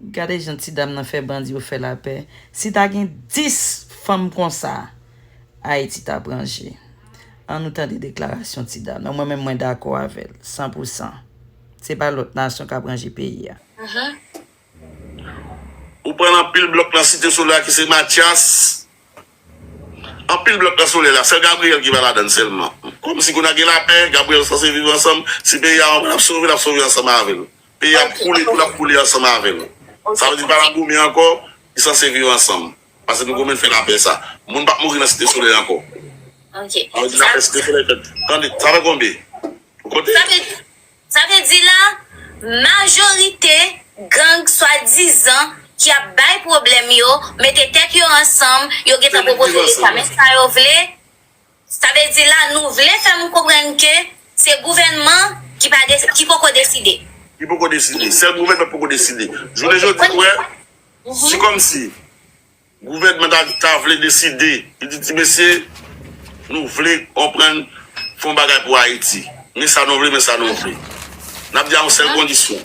Gade jan ti dam nan fè bandi yo fè lapè si ta gen 10 fanm konsa ayiti tap ranje an nou tande deklarasyon ti dam nan mwen menm mwen dakò avèl san pou san se pa lòt nasyon kap ranje peyi a. Ou pran anpil blòk nan site soley la ki se matyas. Anpil blòk nan solèy la sèl Gabriel ki pa ladann sèlman kòmsi kou nan gen lapè Gabriel sanse viv ansanm si peyi a anvan lap sove lap sove ansanm avèl peyi a ap koule tou lap koule ansanm avèl sa vle di li pa nan goumen ankò li sanse viv ansanm pase nou goumen fè lapè sa moun pap mouri nan site solèy ankò sa vle di lapè site solèy fèt tande sa fè konbe ou konte. Sa vle di la, majorite gang swadizan ki ap bay pwoblèm yo mete tèt yo ansanm, yo gentan pwopoze leta men sa yo vle, sa vle di la nou vle fè m konprann ke se gouvènman ki pa desi, ki poko deside. Ki poko deside, sèl gouvènman ki poko deside. Jounen jodi ou wè, se kòmsi. Gouvènman ta ta vle deside, li di ti mesye, nou vle konprann, fè yon bagay pou Ayiti. Men sa nou vle, men sa nou vle. N ap di a yon sèl kondisyon,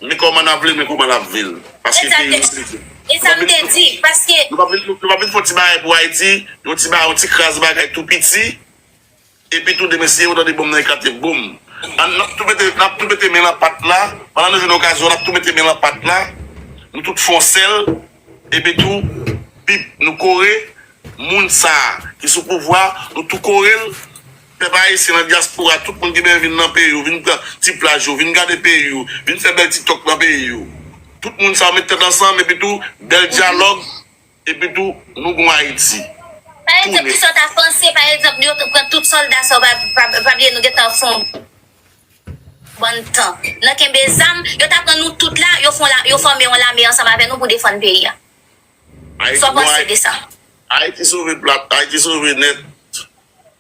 men kòman n ap vle, men kouman n ap vle l. Paske peyi nou se nou. E sa m te di, paske. Nou pa vin fè yon ti bagay pou Ayiti, yon ti bagay, yon ti kras bagay tou piti. Epi tou demen siye ou tande bonm nan eklate boom an nap tou mete nap tou mete men lan pat la pandan nou jwenn okazyon nap tou mete men lan pat la nou tout fon sèl epi tou bip nou kore moun sa ki sou pouvwa nou tou korel pèp ayisyen nan dyaspora tout moun ki benyen vin nan peyi ou vin pran ti plaj ou vin gade peyi ou vin fè bèl tiktok nan peyi ou tout moun sa yo met tèt ansanm epi tou bèl dyalòg. Epi tou nou gon Haiti. Pa egzanp ki sa w ta panse pa egzanp yo pran tout solda sa w pa bliye nou gentan fon bon tan nan kenbe zam yo ta pran nou tout la yo fome yon lame ansanm avè nou pou defann peyi a sa w panse de sa. Ayiti sove plat ayiti sove nèt.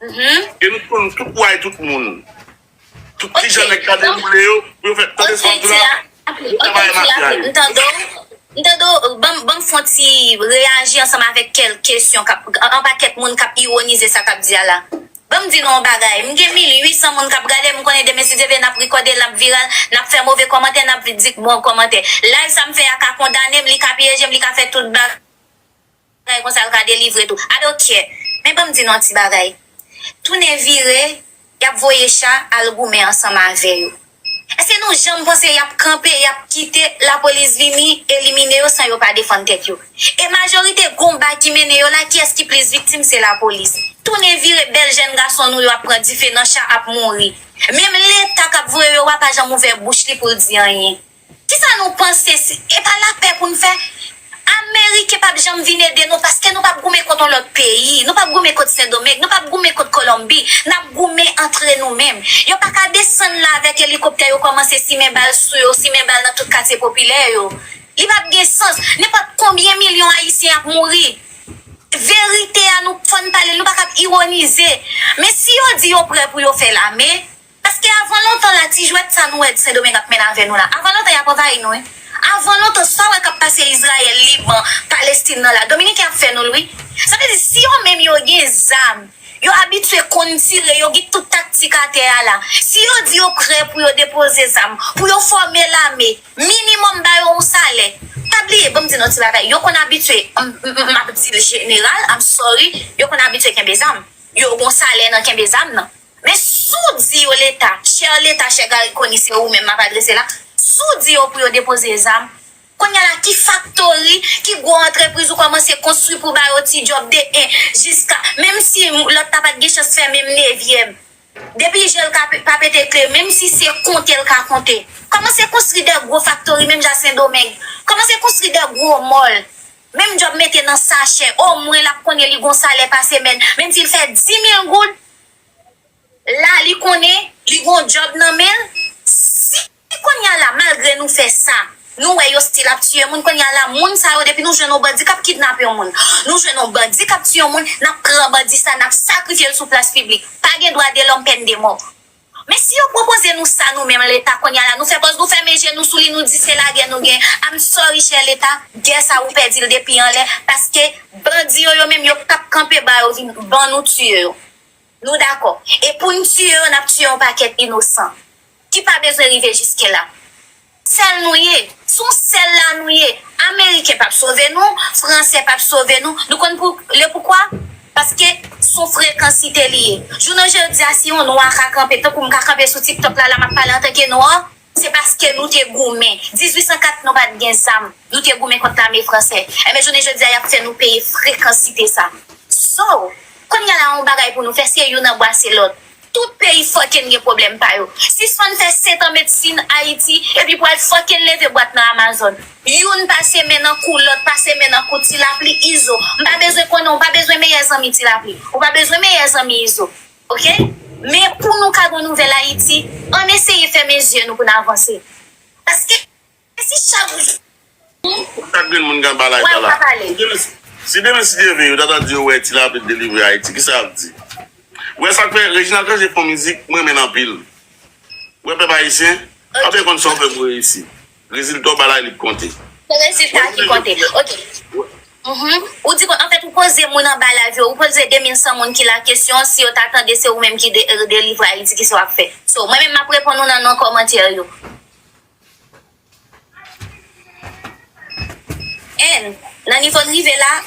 E nou t konn tout way tout moun. Tout ti jan nèg ta dewoule yo pou yo fè tande sa wap di la bon travay mafya yo. M tande w, banm fon ti reyaji ansanm avèk kèlk kesyon kap, anba kèk moun kap iwonize sa kap di a la. Banm di nou yon bagay, m gen 1800 moun kap gade m, m konnen demen si Dye vle nap rekòde l, lap viral, nap fè move kòmantè, nap di bon kòmantè. Live sa m fè a ka kondane m, li ka pyeje m, li ka fè tout bagay. Bagay konsa yo ka delivre tou. I don't care. Men banm di nou yon ti bagay. Tounen vire, yap voye cha al goumen ansanm avè yo. Eske nou janm panse yap kanpe, yap kite lapolis vini elimine yo san yo pa defann tèt yo? E majorite konba ki mennen yo la, kiyès ki plis viktim? Se lapolis. Tounen vire, bèl jèn gason nou yo ap pran dife nan cha, ap mouri. Menm leta kap voye yo a pa janm ouvè bouch li poul di anyen. Kisa nou panse si e pa lapè pou n fè? Ameriken pap janm vin ede nou paske nou pap goumen kont yon lòt peyi. Nou pap goumen kont Sendomeng, nou pap goumen kont Kolonbi. N ap goumen antre nou menm. Yo pa ka desann la avèk elikoptè yo kòmanse simen bal sou yo, simen bal nan tout katye popilè yo. Li pap gen sans. Nenpòt konbyen milyon Ayisyen ap mouri. Verite a nou fò n pale l, nou pa kab ironize. Men si yo di yo prè pou yo fè lame. Paske avan lontan la ti jwèt sa nou wè sendomeng ap mennen avè nou la avan lontan yap anvayi nou wi avan lontan sa wè kap pase izrayèl liban palestin nan la dominiken ap fè nou l wi sa vle di si yo menm yo gen zam yo abitye konn tire yo gen tout taktik atè a la si yo di yo prè pou yo depoze zam pou yo fòme lame minimòm ba yo yon salè pa bliye banm di nou yon ti bagay yo konn abitye map di l jeneral I'm sorry yo konn abitye kenbe zam yo gon salè nan kenbe zam nan. Men si w di yo leta, chè leta, chè Garry Conille se ou menm m ap adrese la, si w di yo pou yo depoze zam, kounye a la ki faktori, ki gwo antrepriz ou kòmanse konstwi pou ba yo ti djòb de 1 jiska, menm si lòt la pa t gen chans fè menm nevyèm, depi je l pa pete kle, menm si se konte l ka konte, kòmanse konstri de gwo faktori menm jan a Sendomeng, kòmanse konstri de gwo mòl, menm djòb mete nan sachè, omwen l ap konnen li gen yon salè pa semèn, menm si l fè 10 mil goud, la li konnen li gon job nan menl si konnya la malgre nou fè sa nou wè yo stil ap tiye moun konnya la moun sa yo depi nou jwenn yon bandi kap kidnape yon moun nou jwenn yon bandi kap tiye yon moun nap pran bandi sa nap sakrifyel sou plas piblik pa gen dwa de lòm pèn de mò. Men si yo pwopoze nou sa nou menm leta konnya la nou fè pòz nou fèmen je nou sou li nou di se lagè nou gen I'm sorry chè leta gè sa ou pèdi l depi anlè paske bandi yo yo menm yo pap kanpe ba yo vin ban nou tiye yo nou dakò e pou n tiye yo n ap tiye yon pakèt inosan ki pa bezwen rive jiske la. Sèl nou ye. Sou sèl la nou ye. Ameriken pap sove nou, Franse pap sove nou. Nou konn pou le poukwa? Paske son frekansite li ye. Jounen jodi a si yon nwa ka kanpe tankou m ka kanpe sou tiktok la la map pale antanke nwa, se paske nou te goumen. 1804 nou pat gen zam, nou te goumen kont lame franse. Enben jounen jodi a yap fè nou peye frekansite sa. So, kounya la yon bagay pou nou fè se youn anbwase lòt. Tout peyi fucking gen problem pa yo. Sispann fè 7 an medsin Ayiti epi pou al fucking leve bwat nan Amazon. Youn pase men nan kou lòt pase men nan kou Tilapli Izo m pa bezwen konnen w pa bezwen meyè zanmi Tilapli ou pa bezwen meyè zanmi Izo ok men pou nou ka gon nouvèl Ayiti ann eseye fèmen zye nou pou n avanse paske Kontak grenn moun Ganba la eta la. Si Denis te leve yo ta ta di yo wè tilapli t delivre ayiti kisa yap di ou wè sak fè Reginald Cangé fon mizik m renmen l anpil ou wè pèp ayisyen pa byen konn sa w fè pou reyisi rezilta w ba laye li k konte se rezilta ki konte ok ou di kon anfèt ou poze moun anba lavi yo ou poze 2100 moun ki la kesyon si yo ta tande se ou menm ki delivre ayiti kisa wap fè so mwen menm map reponn ou nan non kòmantè yo. N, Nan nivo n rive la,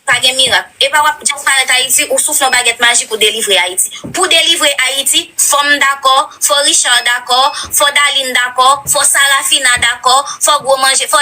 pa gen mirak. Epa w ap disparèt Ayiti, ou soufle yon bagèt majik ou delivre Ayiti. Pou delivre Ayiti, fò m dakò, fò Richard dakò, fò Daline dakò, fò Sarafina dakò, fò gwo manje, fò.